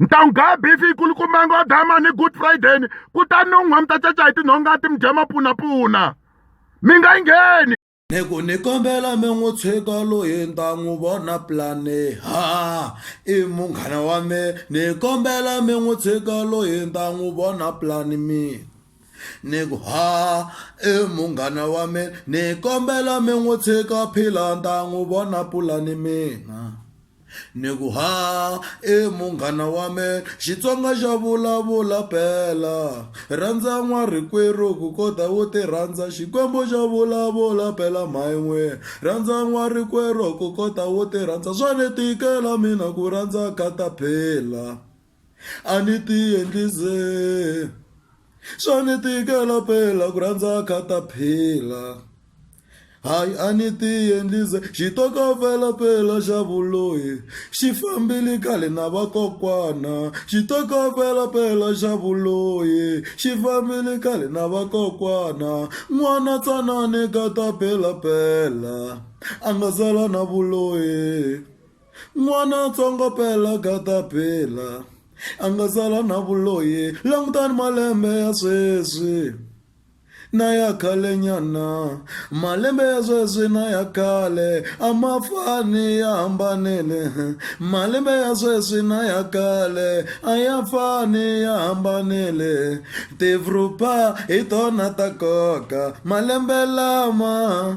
ntan'wugaa bifi yi kulukumanga wa dama ni good friday ni kutani non'wa mi ta caca hi tinhonga ti mi dya mapunapuna mi nga yi ngheni ni ku ni kombela mi n'wi tshika loyi ni ta n'wi vona plane ha i munghana wa me ni kombela mi n'wi tshika loyi ni ta n'wi vona plane mi ni ku ha i munghana wa me ni kombela mi n'wi tshika phila ni ta n'wi vona pulani mina ni ku ha e munghana wa me xitsonga xa vulavula phela rhandza n'wa rikwerhu ku kota wu ti rhandza xikwembu xa vulavula phela mhain'we rhandza n'wa rikwerhu ku kota wu ti rhandza swa ni tikela mina ku rhandza kata phela a ni ti endli ze swa ni tikela phela ku rhandza khataphila hayi a ni ti endli ze xitokofela phela xa vuloyi xi fambile khale na vakokwana xitokofela phela xa vuloyi xi fambile khale na vakokwana n'wana tsanani khataphila phela a nga zala na vuloyi. n'wana ntsongo phela kataphila a nga sala na vuloyi langutani malembe ya sweswi na ya khale nyana malembe ya sweswi na ya khale a ma fani ya hambanile malembe ya sweswi na ya khale a ya fani ya hambanile tivrupa hi tona ta koka malembe lama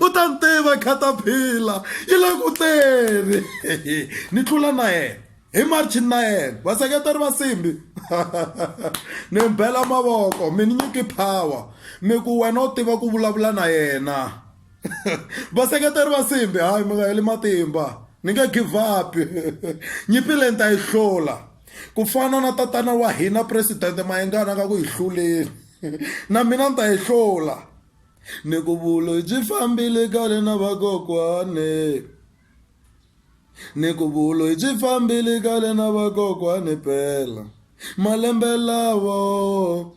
u ta ni tiva khataphila yi le ku teni ni tlula na yena hi marchi na yena vaseketeri va simbi ni bela mavoko mi ni nyiki power mi ku wena u tiva ku vulavula na yena vaseketeri va simbi hayi mi nga heli matimba ni nge give up nyimpi leyi ni ta yi hlula ku fana na tatana wa hina presidente mayengana ka ku yi hluleni na mina ni ta yi hlula ni ku vulo byi fambile kale na vakokwane ni ku vulo byi fambile kale na vakokwane pela malembe lawo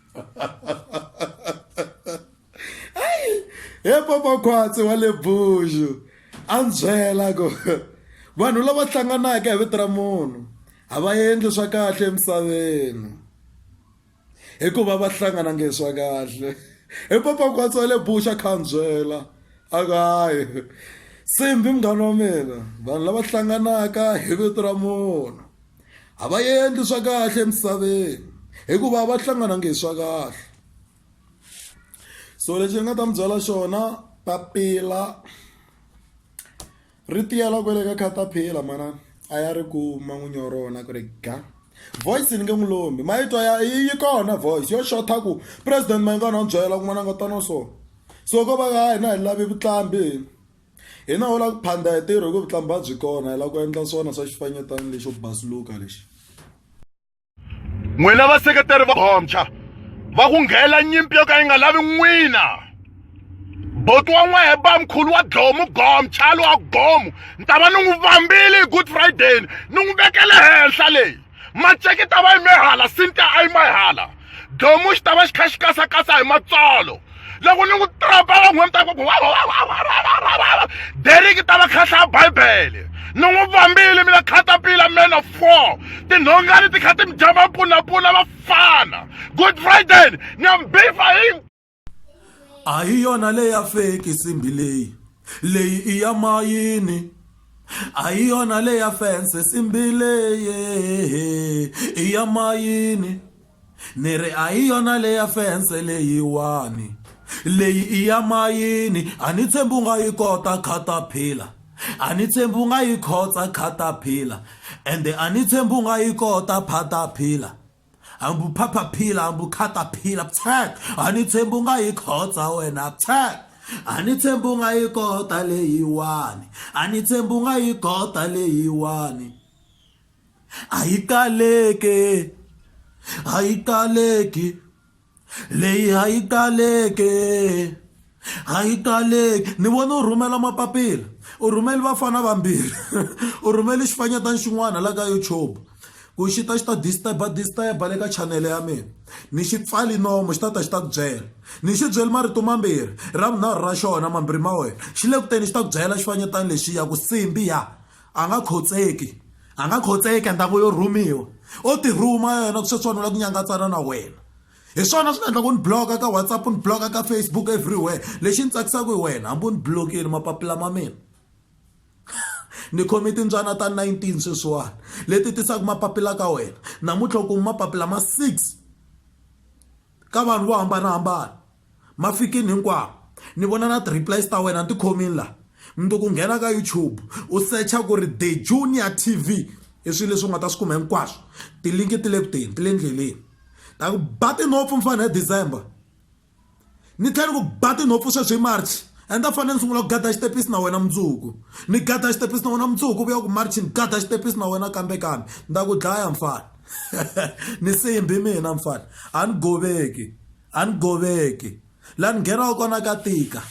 hayi he papa khwatsi wa le buxu a ni byela ku vanhu lava hlanganaka hi vito ra munhu a va endli swa kahle emisaveni hikuva va hlangana nge swa kahle hi papa khwatsi wa le buxu a kha ni byela a ku hayi simbi munghana wa mina vanhu lava hlanganaka hi vito ra munhu A va endli swa kahle emisaveni hikuva a va hlangananga hi swa kahle so lexi ni nga ta mi byela xona papila ri tiyela kwale ka caterpillar mana a ya ri kuma n'winyi wa rona ku ri ga voice ni nge n'wi lombi ma yi twa ya yi kona voice yo xotha ku president mayingani wa ni byela ku n'wana nga tano so so ko va ka hina hi lavi vuqambi. hina ho la ku phanda hi tirho hi ku vutlambha byi kona hi la ku endla swona swa xifanyetana lexo basuluka lexi n'wina vaseketeri va bomcha va ku nghela nyimpi yo ka yi nga lavi n'wina boti wa n'wehe bamkhulu wa dlomu gomchalo wa gomu ni ta va ni n'wi vambile hi good friday ni n'wi vekele henhla leyi maceki ta va yime hala sinta a yima hala domu xi ta va xi kha xi kasakasa hi matsolo loko ni n'wi trapela n'we mi ta ku deriki ta va khahlaya bibele ni n'wi vambile mina khatapila man of four tinhongani ti kha ti mi dya mapunapuna vafana good friday ni ya mi bifa hi a hi yona leyi ya feki nsimbi leyi leyi i ya mayini a hi yona leyi ya fense nsimbi leyi i ya mayini ni ri a hi yona leyi ya fense leyiwani leyi i ya mayini a ni tshembi u nga yi kota khataphila a ni tshembi u nga yi khotsa khataphila ende a ni tshembi u nga yi kota phataphila hambi u phaphaphila hambi u khataphila psek a ni tshembi u nga yi khotsa wena psek a ni tshembi u nga yi kota leyiwani a ni tshembi u nga yi kota leyiwani a yi kaleke a yi kaleki Leyi a yi taleke, a yi taleke. Ni vone u rhumela mapapila, u rhumele vafana vambirhi, u rhumele xifanyetana xin'wana la ka YouTube ku xi ta xi ta disturb-a disturb-a le ka chanele ya mina. Ni xi pfale nomu xi ta ta xi ta ku byela. Ni xi byele marito mambirhi, ra vunharhu ra xona mambirhi ma wena xi le ku teni xi ta ku byela xifanyetana lexiya ku Simbiya A nga khotseki. A nga khotseki endzhaku yo rhumiwa. O ti rhuma yena sweswiwani u lava ku nyangatsana na wena. Hi swona swi nga endlaka u ni block-a ka WhatsApp, u ni block-a ka Facebook everywhere. Lexi ni tsakisaka hi wena hambi u ni block-ini mapapila ma mina ni khome timbyana ta nineteen sweswiwani leti tisaka mapapila ka wena. Namuntlha u kume mapapila ma six. ka vanhu vo hambanahambana mafikini hinkwawo ni vona na ti-replies ta wena ni ti khomini laha mundzuku ku nghena ka youtube u secha ku ri the junior tv i swilo leswi u nga ta swi kuma hinkwaswo tilinki ti le ku teni ti le ndleleni ta ku ba tinhompfu mfana hi december ni tlhela ni ku ba tinhompfu sweswi hi march and a fanele ni sungula ku gada xitepisi na wena mundzuku ni gada xitepisi na wena mundzuku vuya ku march ni gada xitepisi na wena kambe kambe ni ta ku dlaya mfana ni sembi mina mfana a ni goveki a ni goveki laha ni nghenaka kona ka tika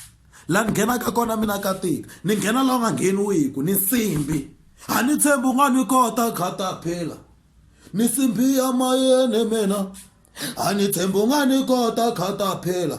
laha ni nghenaka kona mina ka tika ni nghena laha u nga ngheniwiku ni simbi a ni tshembi u nga ni kota khata phela ni simbi ya mayeni mina a ni tshembi u nga ni kota khata phela